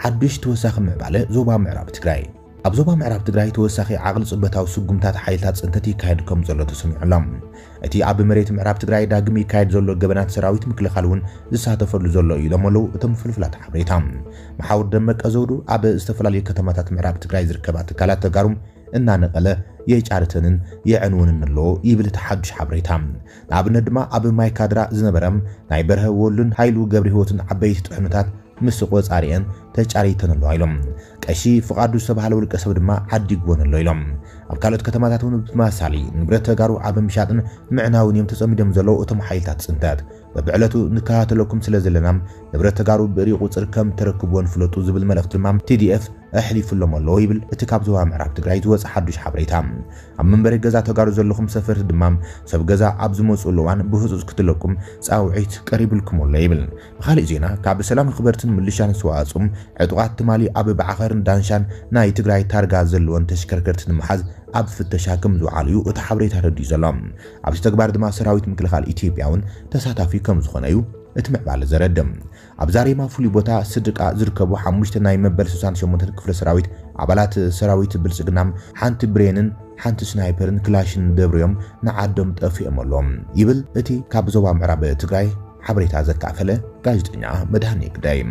ሓዱሽ ተወሳኺ ምዕባለ ዞባ ምዕራብ ትግራይ። ኣብ ዞባ ምዕራብ ትግራይ ተወሳኺ ዓቕሊ ፅበታዊ ስጉምታት ሓይልታት ፅንተት ይካየድ ከም ዘሎ ተሰሚዑ ኣሎ። እቲ ኣብ መሬት ምዕራብ ትግራይ ዳግም ይካየድ ዘሎ ገበናት ሰራዊት ምክልኻል እውን ዝሳተፈሉ ዘሎ እዩ ኢሎም ኣለው እቶም ፍልፍላት ሓበሬታ። መሓውር ደመቀ ዘውዱ ኣብ ዝተፈላለዩ ከተማታት ምዕራብ ትግራይ ዝርከባ ትካላት ተጋሩ እናነቐለ የጫርተንን የዕንወንን ኣሎ ይብል እቲ ሓዱሽ ሓበሬታ። ንኣብነት ድማ ኣብ ማይ ካድራ ዝነበረ ናይ በርሀ ወሉን ሃይሉ ገብሪሂወትን ዓበይቲ ጥሕኑታት ምስ ቆፃሪኤን ተጫሪተን ኣለዋ ኢሎም። ቀሺ ፍቓዱ ዝተብሃለ ውልቀ ሰብ ድማ ዓዲግወን ኣሎ ኢሎም። ኣብ ካልኦት ከተማታት እውን ብተመሳሳሊ ንብረት ተጋሩ ኣብ ምሻጥን ምዕናውን እዮም ተፀሚዶም ዘለዉ እቶም ሓይልታት ፅንተት። በብዕለቱ ንከታተለኩም ስለዘለና ንብረት ተጋሩ ብእርይ ቁፅር ከም ተረክብወን ፍለጡ ዝብል መልእኽቲ ድማ TDF ኣሕሊፉሎም ኣሎ ይብል እቲ ካብ ዞባ ምዕራብ ትግራይ ዝወፀ ሓዱሽ ሓበሬታ። ኣብ መንበሪ ገዛ ተጋሩ ዘለኹም ሰፈርቲ ድማ ሰብ ገዛ ኣብ ዝመፅእሉ እዋን ብህፁፅ ክትለቁ ፃውዒት ቀሪብልኩም ኣሎ ይብል። ብኻሊእ ዜና ካብ ሰላም ኣኽበርትን ምልሻን ዝተዋፅኡ ዕጡቓት ትማሊ ኣብ ባዕኸርን ዳንሻን ናይ ትግራይ ታርጋ ዘለወን ተሽከርከርቲ ንምሓዝ ኣብ ፍተሻ ከምዝወዓሉ ዩ እቲ ሓበሬታ ኣረዲኡ ዘሎ። ኣብዚ ተግባር ድማ ሰራዊት ምክልኻል ኢትዮጵያ ውን ተሳታፊ ከምዝኾነ ዩ እቲ ምዕባለ ዘረድእ። ኣብ ዛሬማ ፍሉይ ቦታ ስድቃ ዝርከቡ ሓሙሽተ ናይ መበል ስሳን ሸሞንተን ክፍለ ሰራዊት ኣባላት ሰራዊት ብልፅግና ሓንቲ ብሬንን ሓንቲ ስናይፐርን ክላሽንን ደብሪዮም ንዓዶም ጠፊኦም ኣሎም ይብል እቲ ካብ ዞባ ምዕራብ ትግራይ ሓበሬታ ዘካፈለ ጋዜጠኛ መድሃኔ ግዳይ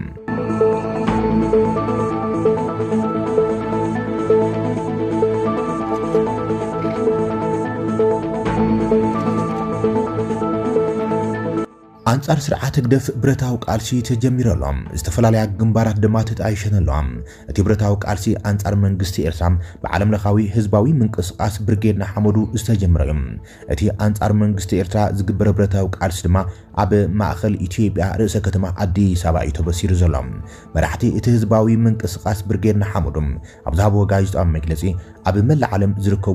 ኣንጻር ስርዓት ህግደፍ ብረታዊ ቃልሲ ተጀሚሩ ኣሎ። ዝተፈላለያ ግንባራት ድማ ተጣይሸን ኣለዋ። እቲ ብረታዊ ቃልሲ ኣንጻር መንግስቲ ኤርትራ ብዓለም ለኻዊ ህዝባዊ ምንቅስቓስ ብርጌድ ንሓመዱ ዝተጀመረ እዩ። እቲ ኣንጻር መንግስቲ ኤርትራ ዝግበር ብረታዊ ቃልሲ ድማ ኣብ ማእከል ኢትዮጵያ ርእሰ ከተማ ኣዲስ ኣበባ እዩ ተበሲሩ ዘሎ። መራሕቲ እቲ ህዝባዊ ምንቅስቓስ ብርጌድ ንሓመዱ ኣብ ዝሃብዎ ጋዜጣዊ መግለጺ ኣብ መላእ ዓለም ዝርከቡ